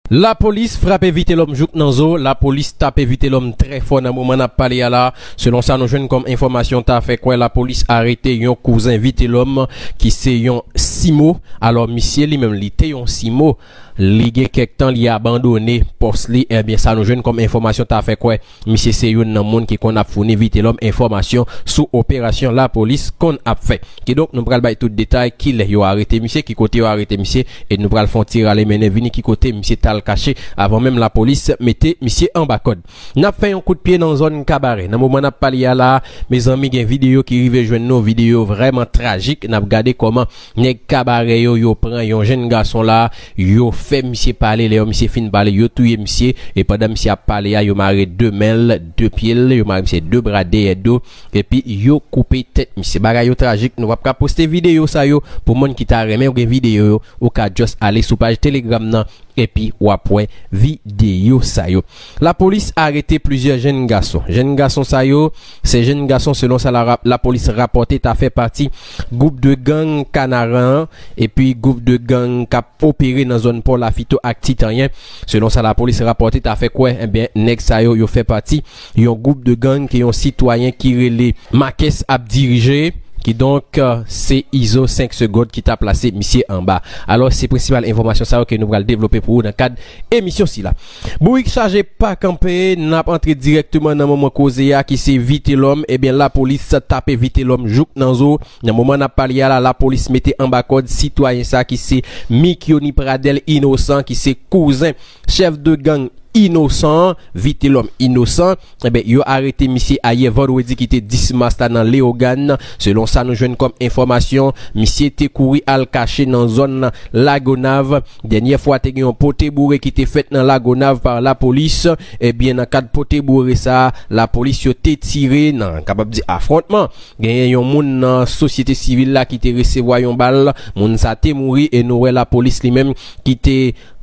Lapolis frape Vitelòm jouk nan zo, Lapolis tape Vitelòm trè fò nan moman n ap pale a la. Selon sa nou jwenn kòm enfòmasyon ta fè kwè lapolis arete yon kouzen Vitelòm ki se yon Simo. Alò misye li menm li te yon Simo, li gen kèk tan li abandone pòs li, ebyen sa nou jwenn kòm enfòmasyon ta fè kwè. Misye se youn nan moun ki konn ap founi Vitelòm enfòmasyon sou operasyon lapolis konn ap fè. Kidonk nou pral bay tout detay, kilè yo arete misye, ki kote yo arete misye e nou pral fè yon ti rale mennen vini ki kote misye t al kache avan menm lapolis mete misye anba kòd. N ap fè yon kout pye nan zòn Kabarè. Nan moman n ap pale a la a, mezanmi gen videyo ki rive jwenn nou, videyo vrèman trajik. N ap gade kòman. Nèg kabarè yo yo pran yon jenn gason la yo fè misye pale lè yo misye fin pale yo touye misye e pandan misye ap pale a yo mare 2 men l 2 pye l yo mare misye 2 bra dèyè do epi yo koupe tèt misye bagay yo trajik nou pap ka poste videyo sa yo pou moun ki ta renmen gen videyo yo ou ka just ale sou paj telegram nan epi wap wè videyo sa yo lapolis arete plizyè jenn gason jenn gason sa yo. Sè jenn gason selon sa lapolis rapòte ta fè pati gwoup 2 gang Kanaran an epi gwoup 2 gang k ap opere nan zòn Pò Lafito ak Ti Tanyen. Selon sa lapolis rapòte ta fè kwè enben nèg sa yo yo fè pati yon gwoup 2 gang ke yon sitwayen ki rele Makes ap dirije kidonk se Izo 5 segond ki ta plase misye anba. Alò se prensipal enfòmasyon sa yo ke nou pral devlope pou ou nan kad emisyon sila. Bourik chaje pa kanpe, nap antre dirèkteman nan moman koze a ki se Vitelòm, ebyen lapolis tape Vitelòm jouk nan zo, nan moman nap pale a la lapolis mete anba kòd sitwayen sa ki se Mikyoni Pradèl Inosan ki se kouzen chèf de gang Inosan an, Vitelòm Inosan. Enben, yo arete misye ayè vandredi ki te 10 mas la nan Leyogàn. Selon sa nou jwenn kòm enfòmasyon, misye te kouri al kache nan zòn Lagonav. Dènyè fwa te gen yon pote boure ki te fèt nan Lagonav pa lapolis. Ebyen nan kad pote boure sa, lapolis yo te tire nan, kapab di afwontman. Genyen yon moun nan sosyete sivil la ki te resevwa yon bal. Moun sa te mouri e nou wè lapolis li menm ki te.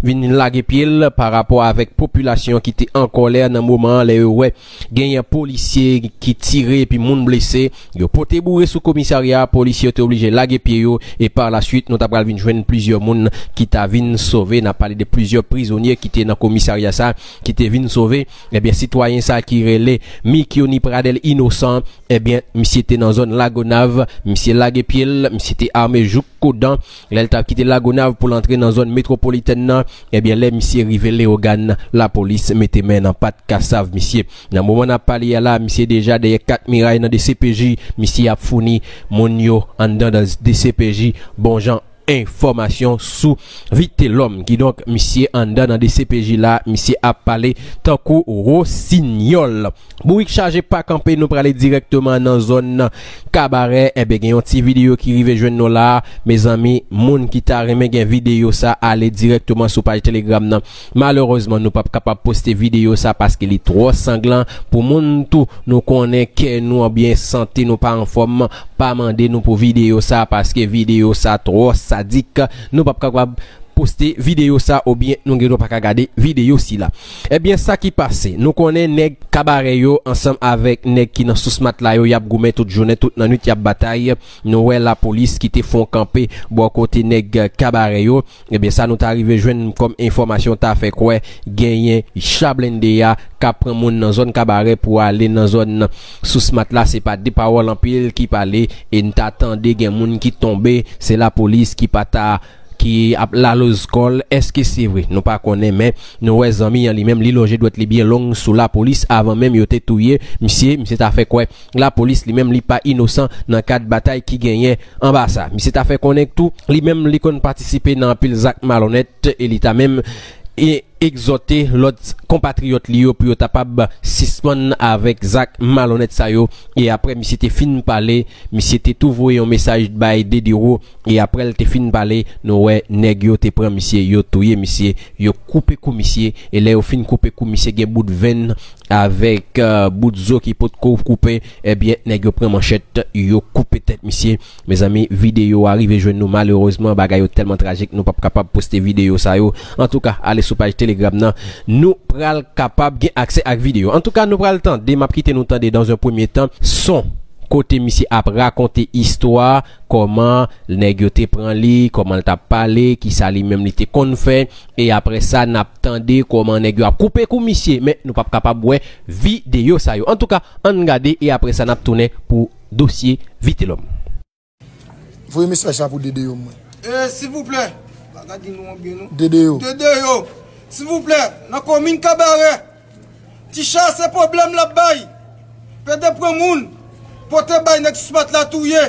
vin lage pye l pa rapò avèk popilasyon an ki te an kòlè nan moman an lè yo wè genyen polisye ki tire epi moun blese, yo pote boure sou komisarya a, polisye yo te oblije lage pye yo e par la swit nou ta pral vin jwenn plizyè moun ki ta vin sove, nap pale de plizyè prizonye ki te nan komisarya sa ki te vin sove, ebyen sitwayen sa ki rele Mikiony Pradel Innocent ebyen misye te nan zòn Lagonav, misye lage pye l, misye te ame jouk. Kodan, lè l t ap kite Lagonav pou l antre nan zòn metwopolitèn nan, ebyen lè misye rive Leyogàn, lapolis mete men nan pat kasav misye. Nan moman n ap pale a la, misye deja dèyè kat miray nan dcpj, misye ap founi moun yo anndan dcpj bon jan enfòmasyon sou Vitelòm. Kidonk, misye anndan nan dcpj la, misye ap pale tankou wosinyòl. Bourik chaje pa kanpe nou prale dirèkteman nan zòn kabarè enben gen yon ti videyo ki rive jwenn nou la mezanmi moun ki ta renmen gen videyo sa ale dirèkteman sou paj telegram nan malerezman nou pap kapab poste videyo sa paske li twò sanglan pou moun tou nou konnen kè nou anbyen sante nou pa anfòm pa mande nou pou videyo sa paske videyo sa twò sadik nou pap kapab poste videyo sa oubyen nou gendwa paka gade videyo sila. Ebyen sa ki pase, nou konnen nèg kabare yo ansanm avèk nèg ki nan sous matla yo yap goumen tout jounen tout nan nwit yap batay, nou wè lapolis ki te fon kanpe bò kote nèg kabare yo, ebyen sa nou ta rive jwenn kòm enfòmasyon ta fè kwè genyen cha blende a ka pran moun nan zòn kabare pou ale nan zòn sous matla se pa de pawòl anpil ki pale e n ta tande gen moun ki tonbe se lapolis ki pa ta ki ap laloz kòl eske se vre nou pa konnen men nou wè zanmi an li menm li lonje dwèt li byen long sou lapolis avan menm yo te touye misye misye ta fè kwè lapolis li menm li pa inosan nan kad batay ki genyen anba sa misye ta fè konnen tou li menm li konn patisipe nan anpil zak malonèt e li ta menm egzòte lòt konpatriyòt li yo pou yo tapab sispann avèk zak malonnèt sa yo e aprè misye te fin pale misye te tou voye yon mesaj bay Dediro e aprè l te fin pale nou wè nèg yo te pran misye yo touye misye yo koupe kou misye e lè yo fin koupe kou misye gen bout venn avèk bout zo ki potko koupe ebyen nèg yo pran manchèt yo koupe tèt misye. Mezanmi video a rive jwenn nou malerezman bagay yo tèlman trajik nou pap kapab poste video sa yo antouka ale sou paj telegram nan nou pral kapab gen aksè ak video antouka nou pral tande map kite nou tande dans un premier temps son kote misye ap rakonte istwa kòman nèg yo te pran li kòmanl tap pale kisa li menm li te konn fè e aprè sa nap tande kòman nèg yo ap koupe kou misye men nou pap kapab wè video sa yo antouka ann gade e aprè sa nap tounen pou dosye vitelom. Voye mesaj sa pou Dede yo mwen. Ee silvouplè pa gade non an byen non. Dede yo. Dede yo silvouplè nan komin kabarè ti cha se pwoblèm lap bay pede pran moun pote bay nèg smat la touye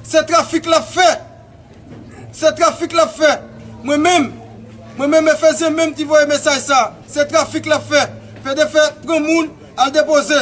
se trafik lap fè se trafik lap fè mwen menm mwen menm efezyen menm ki voye mesaj sa se trafik lap fè pede fè pran moun al depoze.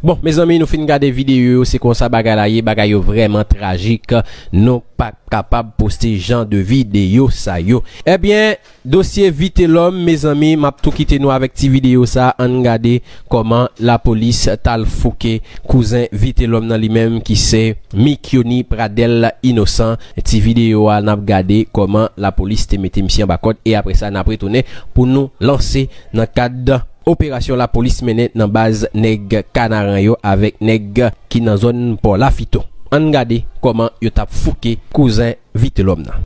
Bon mezanmi nou fin gade videyo yo se konsa bagay la ye bagay yo vreman trajik nou pa kapab poste jan de videyo sa yo ebyen. Dosye vitelom mezanmi map tou kite nou avek ti video sa ann gade koman la polis tal fouke kouzen vitelom nan li menm ki se Mikiony Pradel inosan ti video a nap gade koman la polis te mete misye anba kod e apresa nap retounen pou nou lanse nan kad operasyon la polis mennen nan baz neg kanaran yo avek neg ki nan zon pò lafito ann gade koman yo tap fouke kouzen vitelom nan.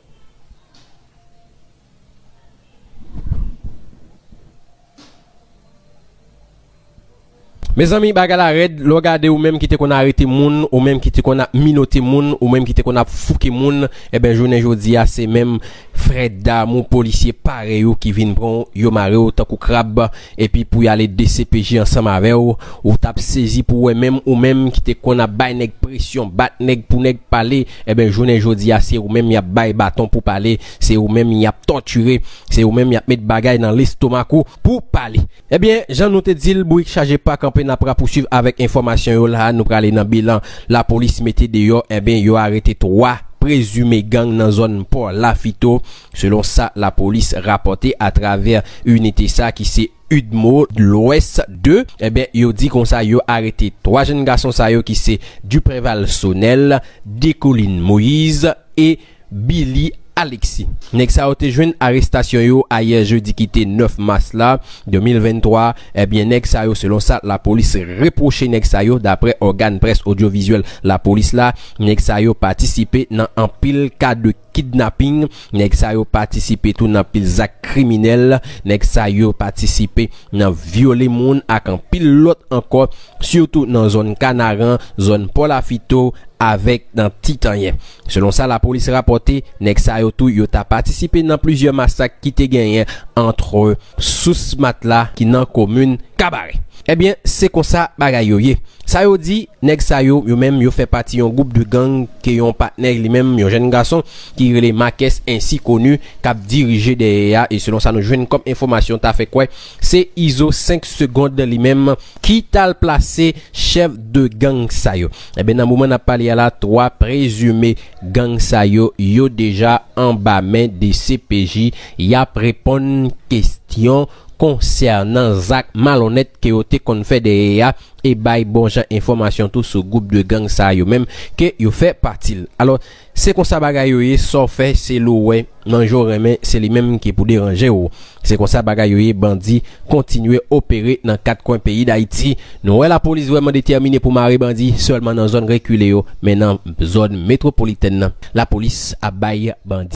Mezanmi bagay la rèd lè w gade ou menm ki te konn arete moun, ou menm ki te konn ap minote moun, ou menm ki te konn ap fouke moun, eben jounen jodi a se menm frè damou polisye parèy ou ki vin pran w yo mare w tankou krab epi pou y ale dcpj ansanm avè w, ou t ap sezi pou wè menm ou menm ki te konn ap bay nèg presyon, bat nèg pou nèg pale, enben jounen jodi a se ou menm y ap bay baton pou pale, se ou menm y ap tòtire, se ou menm y ap met bagay nan lestomak ou pou w pale. Ebyen, jan nou te di l, bourik chaje pa kanpe n ap rapousuiv avèk enfòmasyon yo la a, nou prale nan bilan lapolis mete deyò, enben yo arete 3 prezime gang nan zòn Pò Lafito, Selon sa lapolis rapòte atravè inite sa ki se udmo Lwès 2, enben yo di konsa yo arete 3 jenn gason sa yo ki se Dupreval Sonel, Decoline Moïse e Billy Alexis. Nèg sa yo te jwenn arestasyon yo ayè jedi ki te 9 mas la 2023, enben nèg sa yo selon sa lapolis repwoche nèg sa yo daprè ògàn près odyovizyèl lapolis la, nèg sa yo patisipe nan anpil ka de. kidnaping, nèg sa yo patisipe tou nan pil zak kriminèl, nèg sa yo patisipe nan vyole moun ak anpil lòt ankò, sitou nan zòn Kanaran, zòn Pò Lafito avèk nan Ti Tanyen. Selon sa lapolis rapòte, nèg sa yo tou yo ta patisipe nan plizyè masak ki te genyen antre Sous Matla ki nan komin Kabarè. Ebyen se konsa bagay yo ye. Sa yo di, nèg sa yo, yo menm yo fè pati yon gwoup de gang ke yon patnè li menm, yon jèn gason ki rele Makès ensi koni, kap dirije dèyè a e selon sa nou jwenn kòm enfòmasyon ta fè kwè se Izo 5 segond li menm ki tal plase chèf de gang sa yo. Ebyen nan moman nap pale a la 3 prezime gang sa yo, yo deja anba men dcpj yap reponn kestyon konsènan zak malonnèt ke yo te konn fè dèyè a e bay bon jan enfòmasyon tou sou gwoup de gang sa yo menm ke yo fè pati l. Alò, se konsa bagay yo ye, sa w fè se l ou wè, manje w renmen se li menm ki pou deranje w. Se konsa bagay yo ye bandi kontinye opere nan kat kwen peyi Dayiti. Nou wè lapolis vrèman detèmine pou mare bandi sèlman nan zòn rekile yo men nan zòn metwopolitèn nan lapolis ap bay bandi.